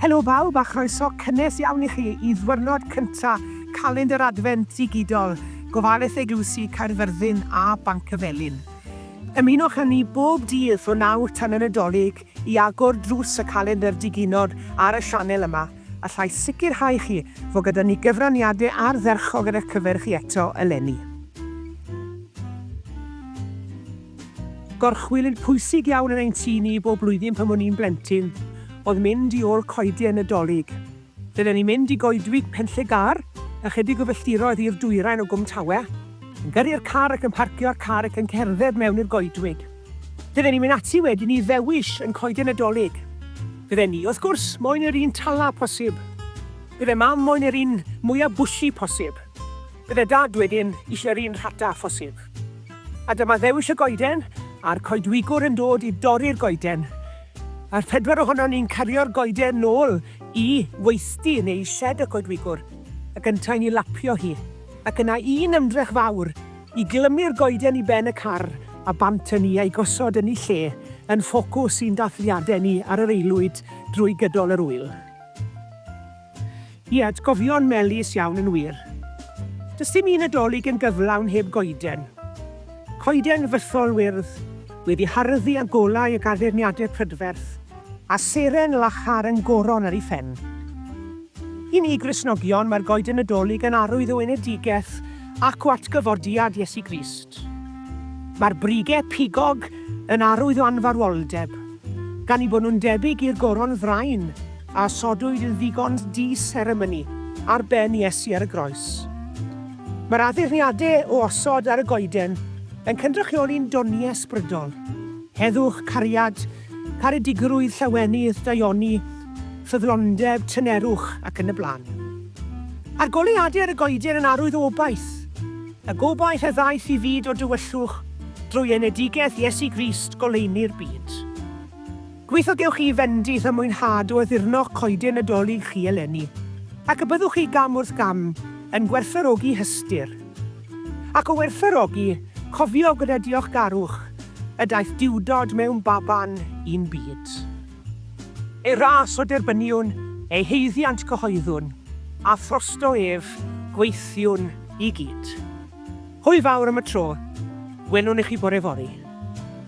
Helo bawb a chroeso cynnes iawn i chi i ddwyrnod cynta Calendr Adfent Digidol Gofaleth Eglwysi Caerfyrddin a Banc y Felin. Ymunwch â ni bob dydd o nawr tan y Nadolig I agor drws y calendr diginod ar y sianel yma, allai sicrhau chi fod gyda ni gyfraniadau ardderchog ar eich cyfer chi eto eleni. Gorchwylydd pwysig iawn yn ein tŷ ni bob blwyddyn pan o'n i'n blentyn oedd mynd i ôl coeden y Dolig. Dylen ni mynd i goedwig Penllegar, ychydig o filltiroedd i'r dwyrain o Gwm Tawe, yn gyrru'r car ac yn parcio a'r car ac yn cerdded mewn i'r goedwig. Dylen ni mynd ati wedyn i ddewis yn coeden Nadolig. Fydden ni, wrth gwrs, moyn yr un tala posib. Bydde Mam moyn yr un mwya bwshi posib. Bydde Dad wedyn eisiau'r un rhata phosib. A dyma ddewis y goeden, a'r coedwigwr yn dod i dorri'r goeden. A'r pedwar ohonon ni'n cario'r goeden nôl Y weithdy yn ei sied y coedwigwr, ac yntau'n ei lapio hi, ac yna un ymdrech fawr i glymu'r goeden i ben y car a bant ynni a'i gosod ynni lle yn ffocws i'n dathliadau ni ar yr aelwyd drwy gydol yr ŵyl. Ie, atgofion melys iawn yn wir. Does dim un Nadolig yn gyflawn heb goeden. Coeden fythol wyrdd, wedi harddu â golau ac addurniadau prydferth, A seren lachar yn goron ar ei phen. I ni Gristnogion, mae'r Goeden Nadolig yn arwydd o enedigeth ac o atgyfodiad Iesu Grist. Mae'r brige pigog yn arwydd o anfarwoldeb, gan eu bod nhw'n debyg i'r goron ddraen a osodwyd yn ddigon di-seremoni ar ben Iesu ar y groes. Mae'r addurniadau o osod ar y goeden yn cynrychioli'n doniau ysbrydol, heddwch, cariad, Caredigrwydd, llawenydd, daioni, ffyddlondeb, tynerwch, ac yn y blaen. A'r goleuadau ar y goeden yn arwydd o obaith. Y gobaith a ddaeth i fyd o dywyllwch drwy enedigeth Iesu Grist, goleuni'r byd. Gobeithio gewch chi fendith a mwynhad o addurno'ch coeden Nadolig chi eleni, ac y byddwch chi gam wrth gam yn gwerthfawrogi hystyr. Ac o werthfawrogi, cofio gyda diolchgarwch y daeth Duwdod mewn baban i'n byd. Ei ras o derbyniwn, ei haeddiant cyhoeddwn, a throsto ef gweithiwn i gyd. Hwyl fawr am y tro, welwn i chi bore fory.